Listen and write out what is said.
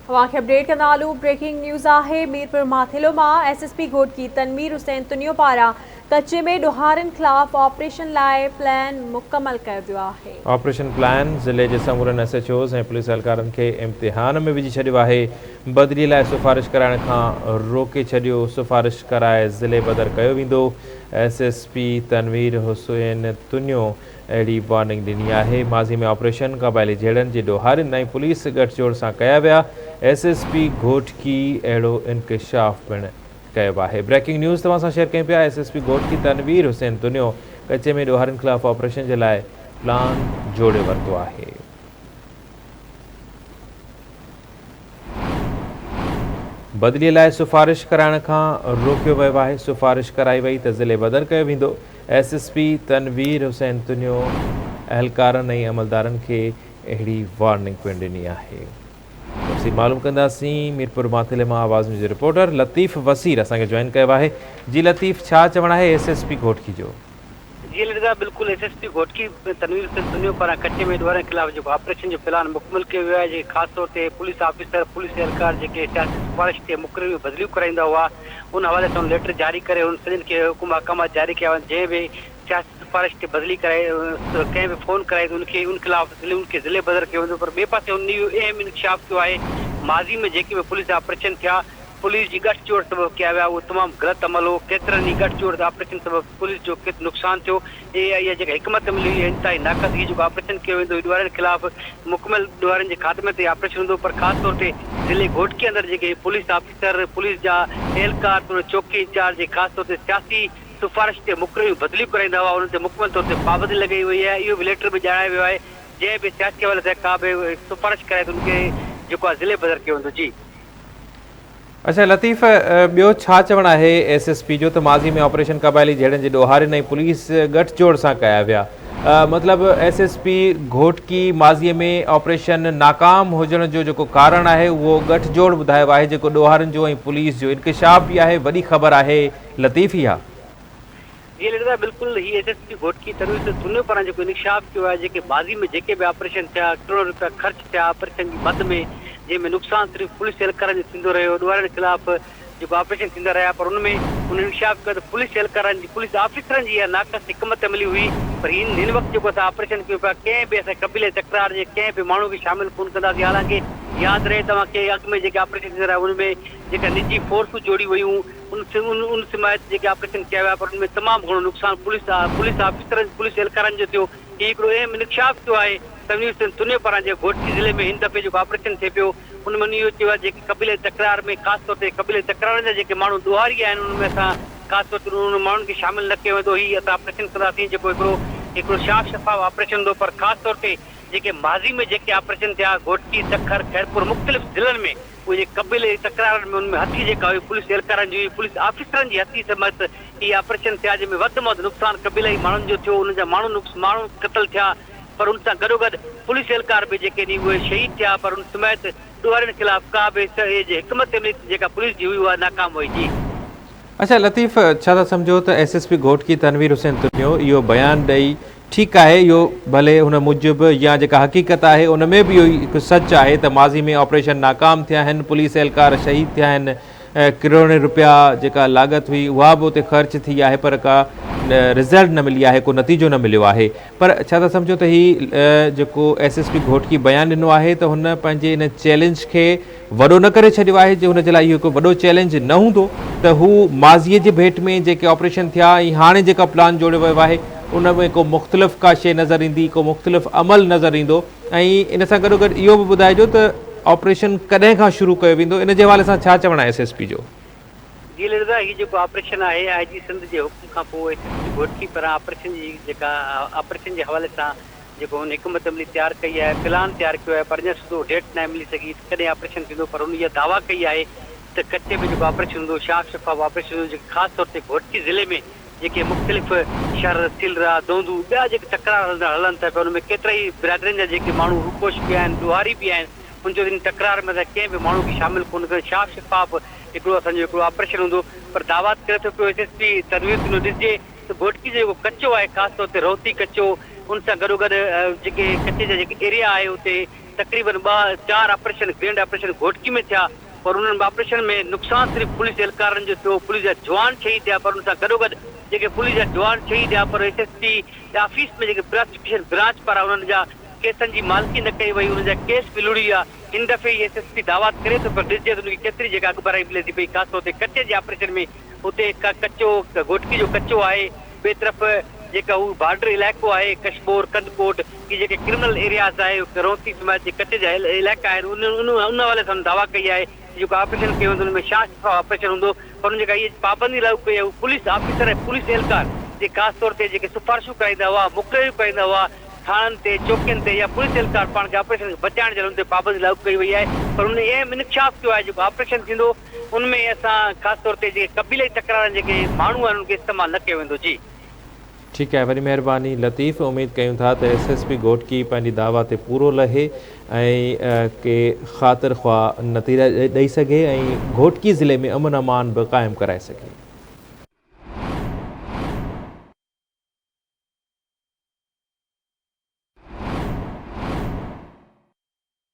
اوهان کي اپڊيٽ ڪندا هلون بريڪنگ نيوز آهي ميرپور ماٿيلو مان S S P Ghotki Tanveer Hussain Tunio پاران ڪچي ۾ ڏوهارين خلاف آپريشن لاء پلان مڪمل ڪيو ويو آهي. آپريشن پلان ضلعي جي سمورن ايس ايڇ اوز ۽ پوليس اهلڪارن کي امتحان ۾ وجهي ڇڏيو آهي بدلي لاء سفارش ڪرائڻ کان روڪي ڇڏيو سفارش ڪرائي ضلعي بدر ڪيو ويندو S S P Tanveer Hussain Tunio اهڙي وارننگ ڏني آهي، ماضي ۾ آپريشن قبائلي جهيڙن جي ڏوهارين ۽ پوليس گٺ جوڙ سان ڪيا ويا، ايس ايس پي گهوٽڪي اهڙو انڪشاف پڻ ڪيو آهي، بريڪنگ نيوز توهان سان شيئر ڪيون پيا، S S P Ghotki Tanveer Hussain Tunio ڪچي ۾ ڏوهارين خلاف آپريشن جي لاء پلان جوڙي ورتو آهي. بدلي لاء سفارش ڪرائڻ کان روڪيو ويو آهي، سفارش ڪرائي وئي ته ضلعي بدر ڪيو ويندو، S S P Tanveer Hussain Tunio اهلڪارن ۽ عملدارن کي اهڙي وارننگ پڻ ڏني آهي. تفصيل معلوم ڪنداسين ميرپور ماٿيلي مان آواز نيوز جي رپورٽر لطيف وسير اسان کي جوائن ڪيو آهي جي لطيف ڇا چوڻ آهي ايس ايس پي گهوٽڪي جو. جيئن لڙڪا بلڪل S S P Ghotki Tanveer Hussain سنيو پاران ڪچي ۾ ڏوهارين خلاف جيڪو آپريشن جو پلان مڪمل ڪيو ويو آهي جيڪي خاص طور تي پوليس آفيسر پوليس اهلڪار جيڪي سياسي سفارش تي مقررين ۾ بدليون ڪرائيندا هئا ان حوالي سان ليٽر جاري ڪري انهن سڄن کي حڪم احڪامات جاري ڪيا وڃن جنهن به سياسي سفارش تي بدلي ڪرائي ڪنهن به فون ڪرائي ته ان کي ان خلاف ضلعي ان کي ضلعي بدر ڪيو ويندو پر ٻئي پاسي انهن اهو اهم انڪشاف ڪيو آهي ماضي ۾ جيڪي به پوليس آپريشن ٿيا پوليس جي ڳٺ چوڙ سبب ڪيا ويا اهو تمام غلط عمل هو ڪيترن ئي ڳٺ چوڙ آپريشن سبب پوليس جو ڪيت نقصان ٿيو اي آئي اي جيڪا حڪمت عملي هئي انتهائي ناقصي جيڪو آپريشن ڪيو ويندو هي ڏوهارين خلاف مڪمل ڏوهارين جي خاتمي تي آپريشن هوندو پر خاص طور تي ضلعي گهوٽڪي اندر جيڪي پوليس آفيسر پوليس جا اهلڪار توڙي چوڪي انچارج ۽ خاص طور تي سياسي سفارش تي مقرريون بدليون ڪرائيندا هئا انهن تي مڪمل طور تي پابندي لڳائي وئي آهي اهو به ليٽر ۾ ڄاڻايو ويو آهي جنهن به سياسي حوالي سان ڪا به سفارش ڪرائي ته ان کي جيڪو آهي ضلعي بدر ڪيو ويندو جي. اچا لطيف ٻيو ڇا چوڻ آهي ايس ايس پي جو ته ماضي ۾ آپريشن قبائلي جهيڙن جي ڏوهارين ۽ پوليس ڳٺ جوڙ سان ڪيا ويا مطلب ايس ايس پي گهوٽڪي ماضي ۾ آپريشن ناڪام هجڻ جو جيڪو ڪارڻ آهي اهو ڳٺ جوڙ ٻڌايو آهي جيڪو ڏوهارين جو ۽ پوليس جو انڪشاف به آهي وڏي خبر آهي لطيف اها جي لڳدا بلڪل هي ايس ايس پي گهوٽڪي تروي سو ٿونيو پاران جيڪو انڪشاف ڪيو آهي جيڪي ماضي ۾ جيڪي به آپريشن ٿيا ڪروڙ روپيا خرچ ٿيا آپريشن جي مد ۾ جنهن ۾ نقصان صرف پوليس اهلڪارن جو ٿيندو رهيو ڏوهارين خلاف جيڪو آپريشن ٿيندا رهيا پر ان ۾ هن انڪشاف ڪيو ته پوليس اهلڪارن جي پوليس آفيسرن جي اها ناقص حڪمت عملي هئي پر هن هن وقت جيڪو اسان آپريشن ڪيون پيا ڪنهن به اسان قبيلي چڪرار جي ڪنهن به ماڻهو کي شامل ڪون ڪنداسين حالانڪه ياد رهي توهان کي اڳ ۾ جيڪي آپريشن ٿيندا رهيا ان ۾ جيڪا نجي فورسون جوڙيون ويون ان سماء تي جيڪي آپريشن ڪيا ويا پر ان ۾ تمام گهڻو نقصان پوليس آفيسرن پوليس اهلڪارن جو ٿيو هي هڪڙو اهم انڪشاف ٿيو آهي تنوير سنڌ تنيو پاران جي گهوٽڪي ضلعي ۾ هن دفعي جيڪو آپريشن ٿي پيو ان ۾ اهو چيو آهي جيڪي قبيلائي تڪرار ۾ خاص طور تي قبيلائي تڪرارن جا جيڪي ماڻهو ڏوهاري آهن ان ۾ اسان خاص طور تي انهن ماڻهن کي شامل نه ڪيو ويندو هي اسان آپريشن ڪنداسين جيڪو هڪڙو هڪڙو شاف شفاف آپريشن هوندو پر خاص طور تي جيڪي ماضي ۾ جيڪي آپريشن ٿيا گهوٽڪي سکر خيرپور مختلف ضلعن ۾ اهي جي قبيلي جي تڪرارن ۾ ان ۾ هٿي جيڪا هئي پوليس اهلڪارن جي هئي پوليس آفيسرن جي هٿي سميت هي آپريشن ٿيا جنهن ۾ وڌ ۾ وڌ نقصان قبيلائي ماڻهن جو ٿيو انهن جا ماڻهو نقص ماڻهو قتل ٿيا پر ان سان گڏوگڏ پوليس اهلڪار به جيڪي ني اهي شهيد ٿيا پر ان سميت ڏوهارين خلاف ڪا به ته اهي جي حڪمت عملي جيڪا پوليس جي هئي اها ناڪام وئي جي. اچا لطيف ڇا ٿا سمجهو ته S S P Ghotki Tanveer Hussain Tunio اهو بيان ڏئي ٺيڪ آهي اهو ڀلي هن موجب يا جيڪا حقيقت آهي ان ۾ به اهو ئي هڪ سچ آهي ته ماضي ۾ آپريشن ناڪام ٿيا آهن پوليس اهلڪار شهيد ٿيا آهن ڪروڙين رپيا جيڪا لاڳت هئي اها به اتي خرچ ٿي آهي پر ڪا رزلٽ نه ملي آهي ڪو نتيجو نه مليو آهي پر ڇا ٿا سمجهو ته هي جيڪو ايس ايس پي گهوٽڪي بيان ڏنو آهي ته هن پنهنجي ان چئلينج کي وڏو نه ڪري ڇڏيو آهي جي هن جي لاء اهو ڪو وڏو چئلينج نه هوندو ته هو ماضي جي ڀيٽ ۾ جيڪي آپريشن ٿيا ۽ هاڻي جيڪا پلان جوڙيو ويو آهي ان ۾ ڪو مختلف ڪا شيء نظر ايندي ڪو مختلف عمل نظر ايندو ۽ ان سان گڏوگڏ اهو به ٻڌائجو ته آپريشن ڪڏهن کان شروع ڪيو ويندو ان جي حوالي سان ڇا چوڻ آهي ايس ايس پي جو. جي لڙگا هي جيڪو آپريشن آهي آء جي سنڌ جي حڪم کان پوء ايس ايس پي گهوٽڪي پران آپريشن جي جيڪا آپريشن جي حوالي سان جيڪو هن حڪمت عملي تيار ڪئي آهي، پلان تيار ڪيو آهي پر اڃا سڌو ڊيٽ ناهي ملي سگهي ته ڪڏهن آپريشن ٿيندو پر هن اها دعويٰ ڪئي آهي ته ڪچي ۾ جيڪو آپريشن هوندو شاف شفاف آپريشن هوندو جيڪي خاص طور تي گهوٽڪي ضلعي ۾ جيڪي مختلف شر، سيلرا، دونڌو ٻيا جيڪي ٽڪرا هلندڙ هلن ٿا پيا ان ۾ ڪيترائي برادرين جا جيڪي ماڻهو روپوش به آهن ڏوهاري به آهن ان چيو ته ان ٽڪرار ۾ اسان ڪنهن به ماڻهو کي شامل ڪونه ڪيو شاف شفاف هڪڙو اسان جو هڪڙو آپريشن هوندو پر دعويٰ ته ڪري ٿو پيو ايس ايس پي تنوير ٿيندو ڏسجي. ته گهوٽڪي جو جيڪو ڪچو آهي خاص طور تي روهتي ڪچو ان سان گڏوگڏ جيڪي ڪچي جا جيڪي ايريا آهي اتي تقريبن ٻه چار آپريشن گرينڊ آپريشن گهوٽڪي ۾ ٿيا پر انهن آپريشن ۾ نقصان صرف پوليس جي اهلڪارن جو ٿيو پوليس جا جوان شهيد ٿيا پر ان سان گڏوگڏ جيڪي پوليس جا جوان شهيد ٿيا پر ايس ايس پي آفيس ۾ جيڪي پراسيڪيوشن برانچ پاران انهن جا ڪيسن جي مالڪي نه ڪئي وئي انهن جا ڪيس به لڙهي ويا هن دفعي ايس ايس پي دعوات ڪري ٿو پر ڏسجي ٿو ان کي ڪيتري جيڪا اڳڀرائي ملي ٿي پئي خاص طور تي ڪچي جي آپريشن ۾ اتي ڪا ڪچو گهوٽڪي جو ڪچو آهي ٻئي طرف جيڪا هو بارڊر علائقو آهي ڪشمور ڪنڌڪوٽ جي جيڪي ڪرمنل ايرياز آهي رونتي سماج جي ڪچ جا علائقا آهن ان ان ان حوالي سان دعويٰ ڪئي آهي ته جيڪو آپريشن ڪيو ويندو ان ۾ شاهه شفا آپريشن هوندو پر ان جيڪا هي پابندي لاڳو ڪئي آهي هو پوليس آفيسر ۽ پوليس اهلڪار جي خاص طور تي جيڪي سفارشون ڪرائيندا هئا مقرريون ڪرائيندا هئا ٿاڻن تي چوڪين تي يا پوليس اهلڪار پاڻ کي آپريشن کي بچائڻ جي لاء ان تي پابندي لاڳو ڪئي وئي آهي پر ان اهم انڪشاف ڪيو آهي جيڪو آپريشن ٿيندو ان ۾ اسان خاص طور تي جيڪي قبيلائي تڪرارن جيڪي ماڻهو آهن ان کي استعمال نه ڪيو ويندو جي. ٺيڪ آهي وڏي مهرباني لطيف اميد ڪيون ٿا ته ايس ايس پي گهوٽڪي پنهنجي دعويٰ تي پورو لهي ۽ ڪي خاطر خواهه نتيجا ڏئي سگهي ۽ گهوٽڪي ضلعي ۾ امن امان به قائم ڪرائي سگهي.